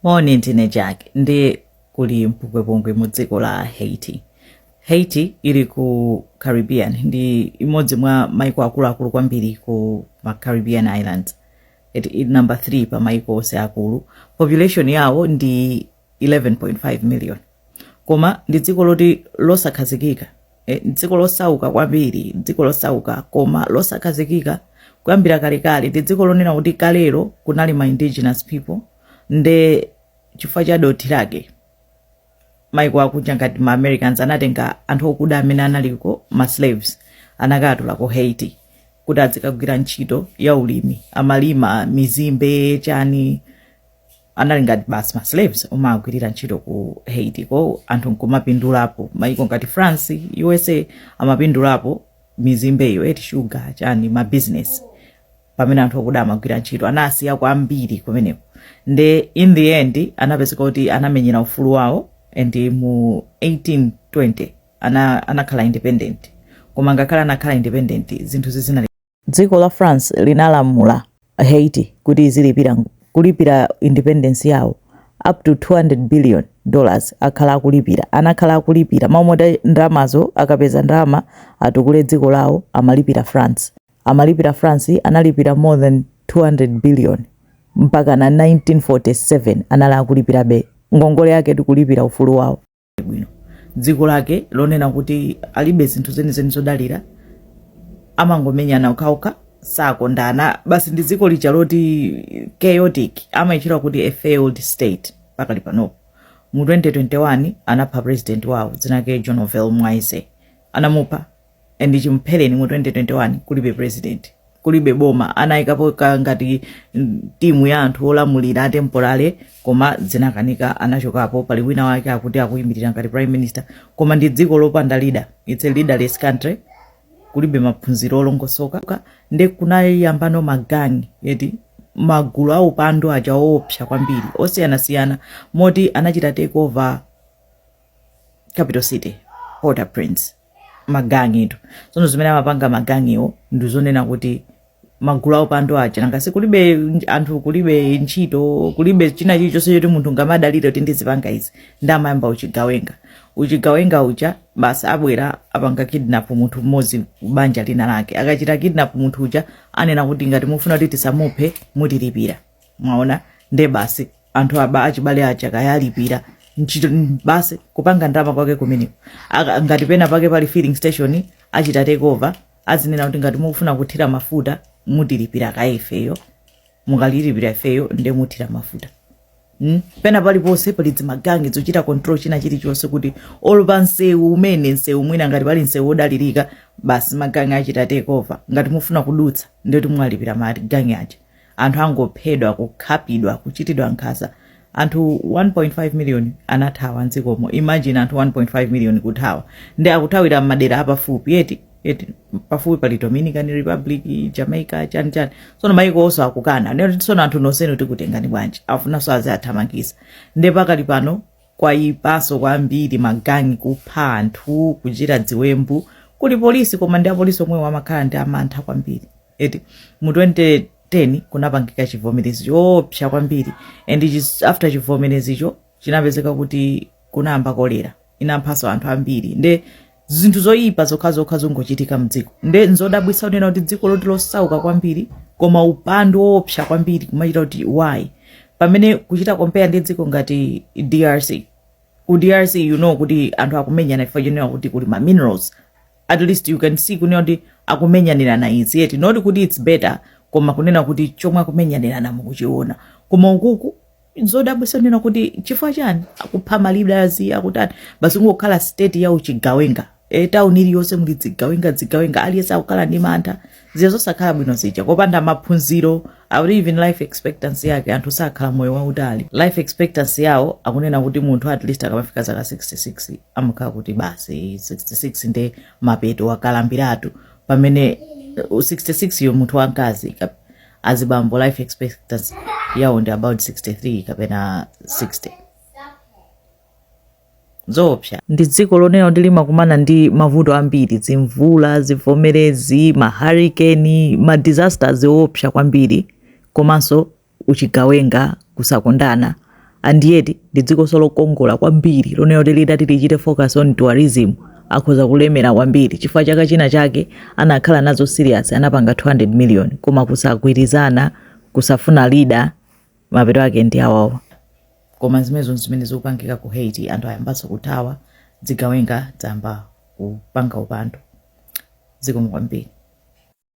Moni, ndine Jack ndi kuli mpungwepungwe mu dziko la Haiti. Haiti ili ku Caribbean ndi imodzi mwa maiko akuluakulu kwambiri ku ma Caribbean Islands. Ili number 3 pa maiko onse akulu. Population yawo ndi 11.5 million. koma ndi dziko loti losakhazikika eh, dziko losauka kwambiri dziko losauka koma losakhazikika kuyambira kalekale ndi dziko lonena kuti kalero kunali ma indigenous people nde chifukwa cha dothi lake maiko akunja ngati ma americans anatenga anthu okuda amene analiko ma slaves anakatula ku haiti kuti azikagwira ntchito ya ulimi amalima mizimbe chani anali ngati basi ma slaves omagwirira ntchito ku haitiko anthu nkumapindulapo maiko ngati france usa amapindulapo mizimbeyo eti shuga chani ma business pamene anthu okuda amagwira ntchito anasiya kwambiri kumeneko nde in the end anapezeka kuti anamenyera ufulu wawo and mu 1820 ana, anakhala independent koma ngakhale anakhala independent zinthu sizinali Dziko la France linalamula Haiti kuti izilipira kulipira independence yawo up to 200 billion dollars akhala akulipira anakhala akulipira mmalo moti ndalamazo akapeza ndalama atukule dziko lawo amalipira France amalipira France analipira more than 200 billion mpakana 1947 anali akulipirabe ngongole yake kulipira ufulu wawo bwino dziko lake lonena kuti alibe zinthu zenizeni zodalira amangomenyana okhaokha sakondana basi ndi dziko lija loti chaotic amayitchulira kuti a failed state pakali panopo mu 2021 anapha president wawo dzina lake jovenel moise anamupha and chimphereni mu 2021 kulibe president kulibe boma anayikapo ka ngati mm, timu ya anthu olamulira atemporale koma zinakanika anachokapo pali wina wake akuti akuyimirira ngati prime minister koma ndi dziko lopanda leader it's a leaderless country kulibe maphunziro olongosoka nde kunayamba no magangi eti magulu aupandu aja oopsa kwambiri osiyanasiyana moti anachita takeover capital city port-au-prince magangitu tsono zimene amapanga magangiwo ndi zonena kuti magulu aupandu aja nangansi kulibe nj- anthu kulibe ntchito kulibe china chilichonse choti munthu angamadalire kuti ndizipanga izi nde amayamba uchigawenga uchigawenga uja basi abwera apanga kidnap munthu mmodzi banja lina lake akachita kidnap munthu uja anena kuti ngati mufuna kuti tisamuphe mutilipire mwaona nde basi anthu aa achibale aja kayalipira ntchito mm, basi kupanga ndalama kwake kumeneko Aka- ngati pena pake pali filling station achita takeover azinena kuti ngati mukufuna kuthira mafuta mutilipira kaye ifeyo mukalipira ifeyo nde muthira mafuta Mm. pena paliponse pali dzimagangi dzochita control china chilichonse kuti olo pa msewu umene msewu mwina ngati pali msewu wodalirika basi magangi achita takeover ngati mufuna kudutsa ndikuti mwalipira magangi aja anthu angophedwa kukhapidwa kuchitidwa nkhaza anthu 1.5 million anathawa mdzikomo imagine anthu 1.5 million kuthawa nde akuthawira m'madera apafupi eti eti pafupi pali dominican republic jamaica chani chani sono maiko onse akukana kunena kuti sono anthu nonsenu tikutengani bwanji afunanso aziwathamangitsa nde pakali pano kwayipaso kwambiri magangi kupha anthu kuchita dziwembu kuli polisi koma nde apolisi omwewo amakhala ndi mantha kwambiri eti mu 2010 kunapangika chivomerezi choopsa kwambiri and chis- after chivomerezicho chinapezeka kuti kunayamba kolera inaphanso anthu ambiri nde zinthu zoyipa zokhazokha zongochitika mdziko nde nzodabwitsa kunena kuti dziko loti losauka kwambiri koma upandu woopsa kwambiri kumachita kuti why pamene kuchita compare ndi dziko ngati drc ku drc you know kuti anthu akumenyana chifukwa chonena kuti kuli ma minerals at least you can see kunena kuti akumenyanirana izi eti not kuti its better koma kunena kuti chomwe akumenyanirana mukuchiona koma ukuku zodabwitsa kunena kuti chifukwa chani akupha malidazi akutani basi kungokhala state ya uchigawenga e, tauni iliyonse muli dzigawenga dzigawenga aliyense akukhala ndi mantha zinthu zosakhala bwino zija kopanda maphunziro akuti even life expectancy yake anthu sakhala moyo wautali life expectancy yawo akunena kuti munthu at least akamafika zaka 66 amakhala kuti basi 66 nde mapeto wakalambiratu pamene uh, 66 yo munthu wamkazi ka- azibambo life expectancy yawo ndi about 63 kapena 60 zoopsa ndi dziko lonena kuti limakumana ndi mavuto ambiri dzimvula zivomerezi maharikeni ma disasters oopsa kwambiri komanso uchigawenga kusakondana and yet ndi dzikonso lokongola kwambiri lonena kuti litati lichite focus on tourism akhoza kulemera kwambiri chifukwa chaka china chake anakhala nazo serious anapanga 200 million koma kusagwirizana kusafuna lida mapeto ake ndi awawa koma zimenezo nzimene zikupangika ku haiti anthu ayambanso kuthawa dzigawenga dzayamba kupanga upandu zikomo kwambiri